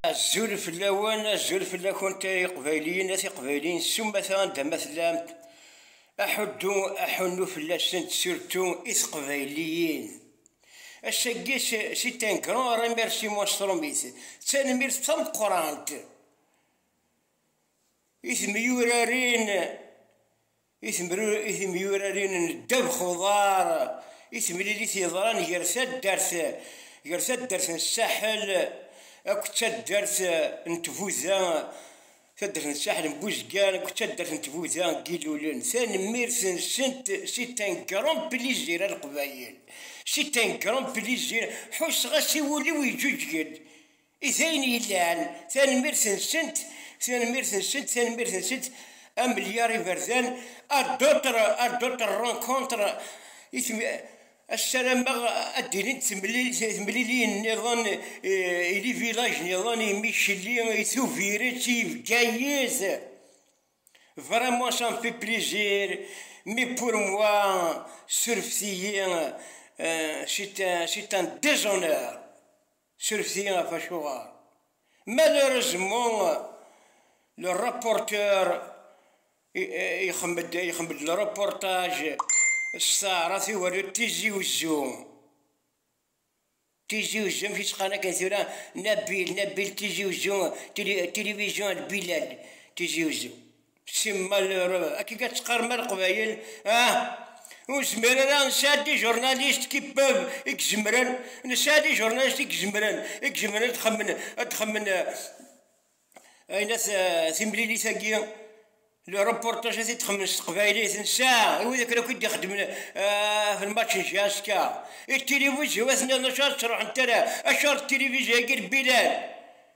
Azul fell-awen, azul fell-akent ay iqbayliyen, at iqbayliyen s umata anda ma tellamt, aḥuddu, aḥunnu fell-asent surtu i teqbayliyin. Ass-agi, c'est un grand remerciement stromit, d tanemmirt tameqqrant i temyurarin i temyurarin n ddabex uḍar i temlilit yeḍran gar taddart gar taddart n Saḥel akked taddart n Tbuda taddart n Saḥel n Buzgan akked taddart n Tbuda n Yilulen tanemmirt-nsent c'est un grand plaisir a Leqbayel c'est un grand plaisir ḥusseɣ-as i wul-iw yeǧǧuǧgen I d ayen yellan, tanemmirt-nsent, tanemmirt-nsent, tanemmirt-nsent a Melyar Iberdan, à d'autres, à d'autres rencontres, i tem- Ssarameɣ ad d-ilint temlil- temliliyin nniḍen eh, i livilaj nniḍen, i Micheli, i Tubiret, i Bgayet. Vraiment, ça me fait plaisir, mais pour moi, surfet-iyi, euh, c'est un, c'est un déshonneur. Suref-iyi ɣef acuɣer. Malheureusement, le rapporteur ixemmed le reportage s taɛrabt i ugerdu Tizi Uzzu. Tizi Uzzu, amek i tt-qqaren akken tura? Nabil, Nabil Tizi Uzzu, télévision El Bilal, Tizi Uzzu. Si malheur, akka i tt-qqarem a Leqbayel, ah, ur zmir ara nesɛa-d ijernalis qui peuvent i izemren, nesɛa-d ijernalis i izemren, i izemren ad xemmen, ad xemmen ayen at timlilit-agi, le reportage ad t-id-xemmen s teqbaylit, nesɛa wid akken akk i d-ixeddmen ɣef lmatch n Jaska, i tilivizyun ad ten-nniḍen acu ara tt-ruḥent ara, acuɣer tilivizyun-agi n Bilal,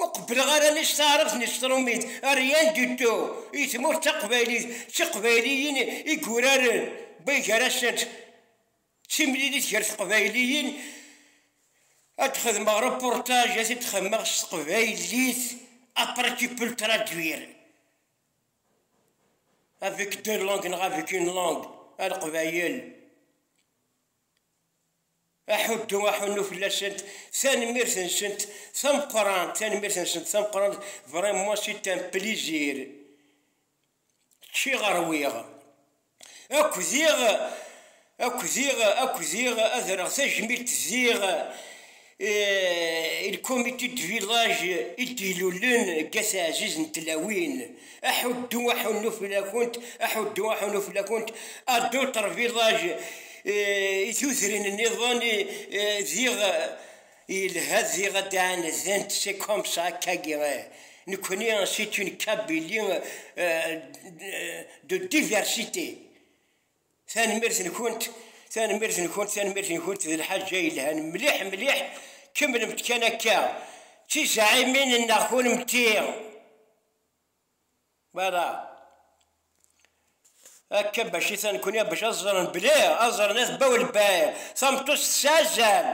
Ur qebbleɣ ara anect taɛrabt n tṛumit, rien du tout, i tmurt taqbaylit, d tiqbayliyin i yuraren bay gar-asent d timlilit gar teqbayliyin, ad d-xedmeɣ reportage, ad t-id-xedmeɣ s teqbaylit, après tu peux le traduire avec deux langues neɣ avec une langue, a leqbayel. aḥuddu aḥunnu fell-asent tanemmirt-nsent tameqqrant tanemmirt-nsent tameqqrant vraiment c'est un plaisir ččiɣ rwiɣ akk diɣ akk diɣ akk diɣ ad rreɣ tajmilt diɣ il comité de village i d-ilulen deg ass ɛziz n tlawin aḥuddu aḥunnu fell-akent aḥuddu aḥunnu fell-akent à d'autres villages i tudrin nniḍen diɣ yelha diɣ ad d-ɛanedent c'est comme ça akkagi nekkni c'est une Kabylie de diversité Tanemmirt-nkent, tanemmirt-nkent, tanemmirt-nkent d lḥaǧa yelhan mliḥ mliḥ, kemmlemt kan akka d tizeɛɛimin-nneɣ kunemti. Voilà. Akka bac i tanekkuni bac ad ẓren belli ad ẓren at Baw Lbɛid tameṭṭut tettazal,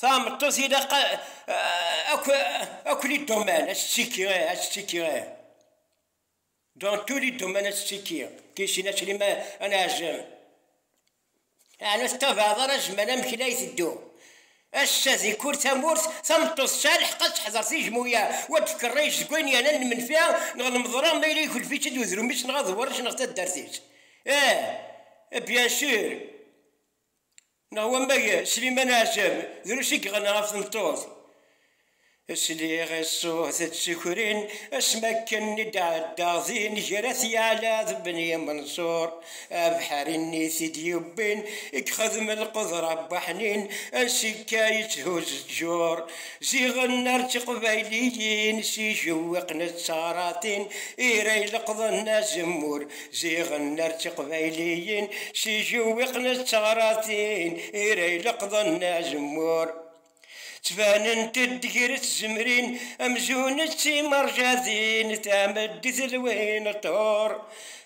tameṭṭut ilaq ad kli ddumman ad tettiki ih, ad tettiki ih. Dans tous les domaines ttekki Tichina Slima ad neɛzem Ɛni ur tettabaɛeḍ ara zzman amek i la iteddu Ass-a di kul tamurt tameṭṭut tesɛa lḥeqq ad teḥder tijmuya u ad d-tkerric deg wayen yernan lmenfi neɣ lmeḍra ma yella ikelf-itt-id udrum-is neɣ aḍewwer-is neɣ taddart-is Eh bien sûr Neɣ wamek Sliman Ɛjab drus i yeɣna ɣef tmeṭṭut. Sliɣ i ṣṣut d tikrin asmi akken i d-ɛeddaɣ din ger At Yeɛla d Ben Yimenṣur, abeḥri-nni i t-id-yewwin, i yexdem lqedra n waḥnin, ansi akka yetthuzz ttjur, ziɣen ar d tiqbayliyin s yijewwiqen d teɣratin i ira ileqḍen azemmur. Ziɣen ar d tiqbayliyin si jewwiqen d teɣratin i ra ileqḍen azemmur. Ttbanent-d ger tzemrin amzun d timerjadin tameddit lwin ṭhur,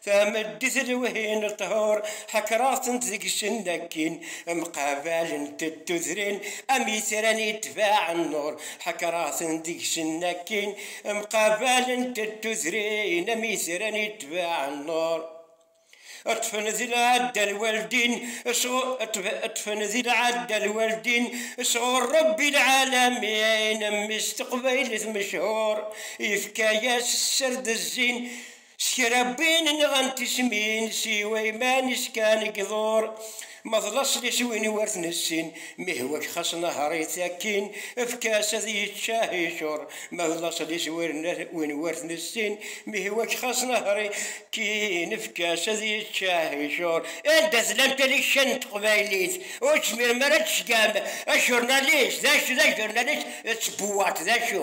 tameddit lwin ṭhur ḥekreɣ-tent deg-sen akkin mqabalent-d tudrin am itran itbaɛen nnur, ḥekreɣ-ten deg-sen akkin Mqabalent n tudrin am itran itbeɛen nnur. Ṭṭfen di lɛadda lwaldin Ṭṭfen di lɛadda lwaldin Sɣur Ṛebbi lɛalamin Mmi-s teqbaylit mechur Yefka-yas sser d zzin S kra wwin nɣan tismin, s yiwa iman-is kan i iḍur, ma d laṣel-is win i wer t-nessin, mi ihwa-k xas nehher-it akkin, efk-as ad yeččah icur, ma d laṣel-is win i wer t-nessin, mi ihwa-k xas nehher-it akkin, efk-as ad yeččah icur. Anda tellam talekka n teqbaylit ur tezmirem ara ad tceggɛem ajurnalis d acu d ajurnalis d tbewwaṭ d acu?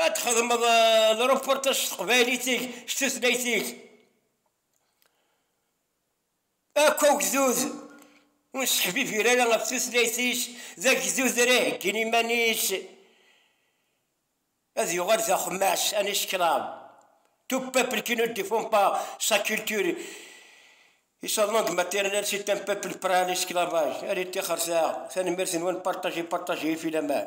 Ad txedmeḍ uh, reportage s teqbaylit-ik, s tutlayt-ik. Akk agdud ur seḥbibir ara ɣef tutlayt-is, d agdud ara iheggin iman-is, ad yuɣal d axemmas, un esclave. Tout peuple qui ne défend pas sa culture et sa langue maternelle, c'est un peuple prêt à l'esclavage. Allez, tixer saɛa, tanemmirt-nwen, partager, partager, filaman.